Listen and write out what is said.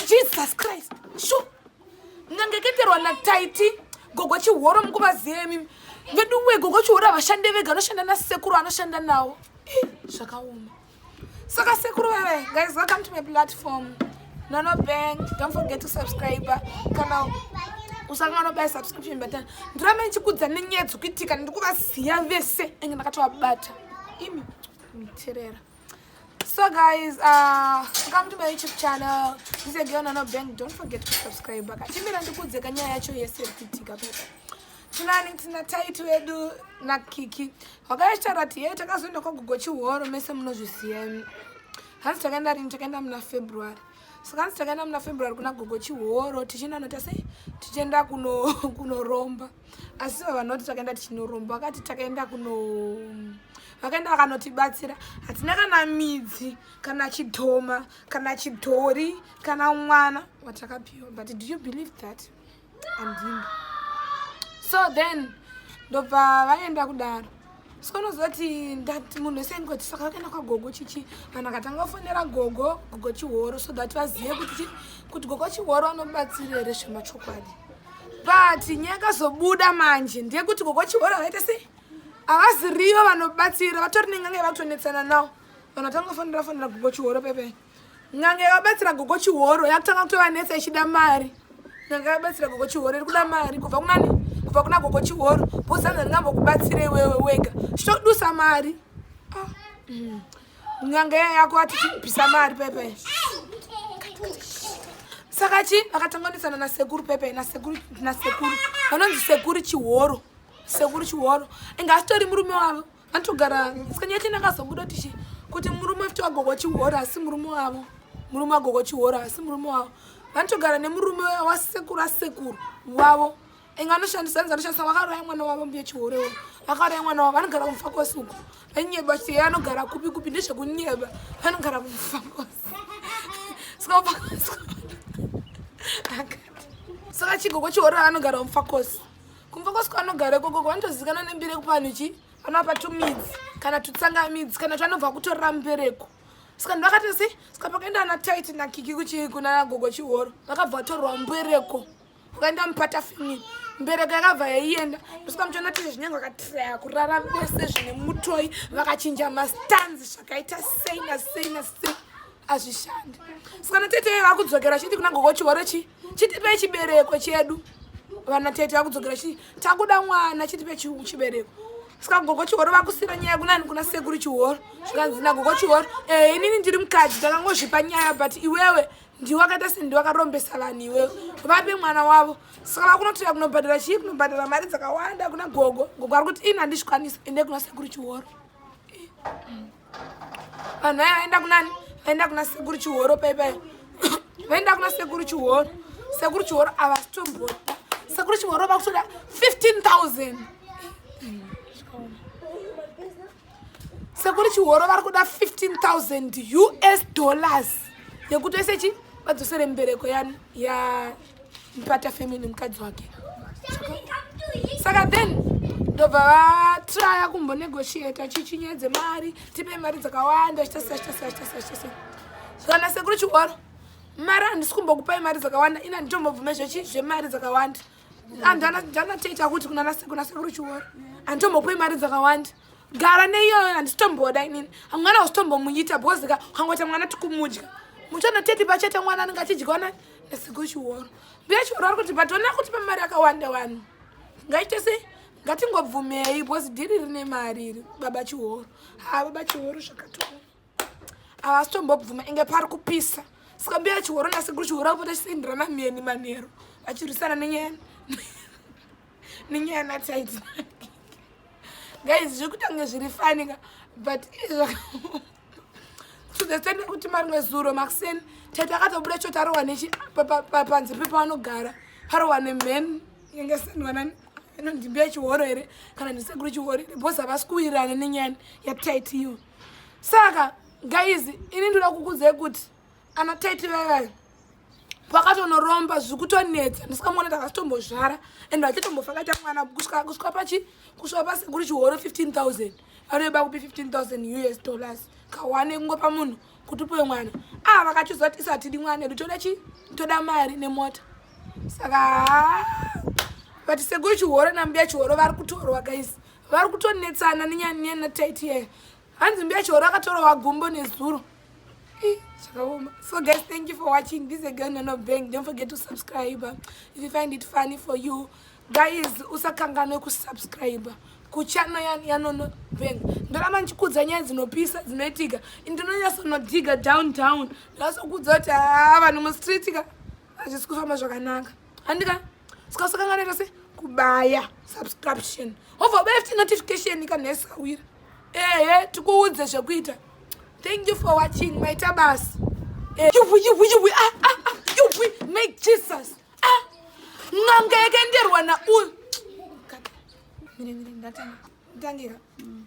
jesus christ shu ngangeketerwa nataiti gogo chihoro mukuvaziyemi veduwe gogo chihoro avashande vega anoshanda nasekuru anoshanda nawo zvakaoma saka sekuru veve guys welcome to my platform nono bank don't forget to subscribe kana usanga anobaya subscription button ndiramba ndichikudza nenyaya dzekuitika ndiri kuvaziva vese enge ndakatovabata imi miterera so guys uh, come to my youtube channel this is girl nano bank don't forget to subscribe baka chimira ndikudze kanyaya yacho yese ikuitika pepa tinani tina taiti wedu nakiki wakayachitaura kuti yee takazoenda kwagogo chihoro mese munozvisiya hanzi takaenda rini takaenda muna february saka hanzi takaenda muna february kuna gogo chihoro tichienda nota sei tichienda kunoromba kuno asi ivo vanhu vati takaenda tichinoromba vakati takaenda kuno vakaenda vakanotibatsira hatina kana midzi kana chidhoma kana chidhori kana mwana watakapiwa but do you believe that andini so then ndobva vaenda kudaro so unoziva kuti ndati munhu wese ndikoti saka vakaenda kwagogo chichi vanhu vakatanga kufonera gogo gogo chihoro so that vazive kuti kuti gogo chihoro vanobatsira here zvemachokwadi but nyaya yakazobuda manje ndeyekuti gogo chihoro vakaita sei havazirivo vanobatsira vatori nengange vakutonetsana nawo vanhu vatanga kufonera fonera gogo chihoro pepee N'anga yakabatsira gogo chihoro yakutanga kutovanetsa ichida mari. N'anga yakabatsira gogo chihoro iri kuda mari kubva kunani? Kubva kuna gogo chihoro. Bhozanza ndingambokubatsira iwewe wega. Chitodusa mari. Ah. Mm. N'anga yako atichibvisa mari pepe. Saka chi vakatanganisana na sekuru pepe na sekuru na sekuru. Vanonzi sekuru chihoro. Sekuru chihoro. Inga asitori murume wavo. atogara musikana yacho ndakazobuda tichi kuti murume afti wagogo chihora asi murume wavo murume wagogo chihora asi murume wavo vanotogara nemurume wasekuru asekuru wavo inga anoshandisa anzi anoshandisa vakauraya mwana wavo mbiye chihore wo vakauraya mwana wavo vanogara kumufa kwose uko vanyeba chiti ye anogara kupi kupi ndezvekunyeba vanogara kumufa kwose saka chigogo chihore anogara kumufa kwose kumva kwasiko vanogara ikoko vanotozivikanwa nembiri yekupa vanhu chii vanoapa tumidzi kana tutsanga midzi kana twanobva kutorera mubereko saka ndi vakati si saka pakaenda ana tit nakiki kuchii kuna gogo chihoro vakabva vatorwa mubereko ukaenda mupata fini mbereko yakabva yaienda ndosaka muchiona tiri zvinyange vakatiraya kurara vese zvine mutoi vakachinja mastanzi zvakaita sei nasei nasei azvishandi saka natete vakudzokera chiti kuna gogo chihoro chii chitipe chibereko chedu vana tete vakudzokera chii takuda mwana chitipe chibereko saka gogo chihoro vakusira nyaya kunani kuna sekuru chihoro zvikanzi nagogo chihoro eh, inini ndiri mukadzi takangozvipa nyaya but iwewe ndiwe akaita sei ndiwe akarombesa vanhu iwewe vape mwana wavo saka vakunotoya kunobhadhara chii kunobhadhara mari dzakawanda kuna gogo gogo ari kuti ini handizvikwanisa ende kuna sekuru chihoro eh. vanhu vaya vaenda kunani vaenda kuna sekuru chihoro paipai vaenda kuna sekuru chihoro sekuru chihoro avasitombota sekuru chihoro vakutoda 15000 sekuri chihoro vari kuda 15000 us dollars yekuti ese chi vadzosere mbereko ya mpata family nemukadzi wake saka then ndobva vatraya kumbonegotiata chichinyedze mari tipe mari dzakawanda chitasaitasaitasaitasa zvana sekuru chihoro mari handisi kumbokupai mari dzakawanda ina nditombobvume zvechi zvemari dzakawanda andanateta kuti kunanasekuna sekuru chihoro handitombopui mari dzakawanda gara neiyoyo handisitomboda inini hamwana usitombomunyita because ka ukangoita mwana tikumudya muchona teti pachete mwana anenge achidya nani Nasigo chiworo. Mbuya chiworo ari kuti but ona kuti pamari akawanda wani. Ngaite sei? ngatingobvumei because dhiri rine mari iri baba chihoro ha baba chihoro zvakatoa havasi tombobvuma inge pari kupisa saka mbuya chihoro nasekuru chihoro akupota chisindirana mheni manheru vachirwisana nenyaya nenyaya natsaidzi guys zviri kutange zviri fanika but tuzesende kuti marimwe zuro makuseni tete akatobuda cho tarohwa nechi panze pepaanogara parohwa nemhen inenge senwanani ino ndimbi yechihoro here kana ndisekuru chihoro here bos havasi kuwirirana nenyaya yataiti iyo saka gaizi ini ndoda kukudzai kuti ana tete vevai vakatonoromba zvikutonetsa ndisikamuona takasitombozvara and vachitombofa kaita mwana kusvika pachi kusvika pasekuri chihoro 15000 vanoiba kupi 15000 us dollars kawane kungopa munhu kuti upiwe mwana aa ah, vakachiziva kuti isatidi mwana edu toda chi toda mari nemota saka vati sekuri chihoro nambuya chihoro vari kutorwa guys vari kutonetsana nenyanyana taiti yeye hanzi mbuya chihoro akatorowa gumbo nezuro zvakaoma so guys thank you for watching this again nono bank don't forget to subscribe if you find it funny for you guys usakanganwe kusubscribe kuchano yanono bank ndoramba ndichikudza nyaya dzinopisa dzinoitika ndinonyasonodiga down down ndinasokudza kuti haa ah, vanhu mustreetika hazvisi kufamba zvakanaka handika sikasakanganira se kubaya subscription hova baya futi notification kanhesawira ehe tikuudze zvekuita thank you for watching maita basa eh, yubwi yubwi yubwi ah, ah, ah, yubwi make jesus ah, n'anga yakaenderwa na uyu mire mire ndatanga ndangira mm.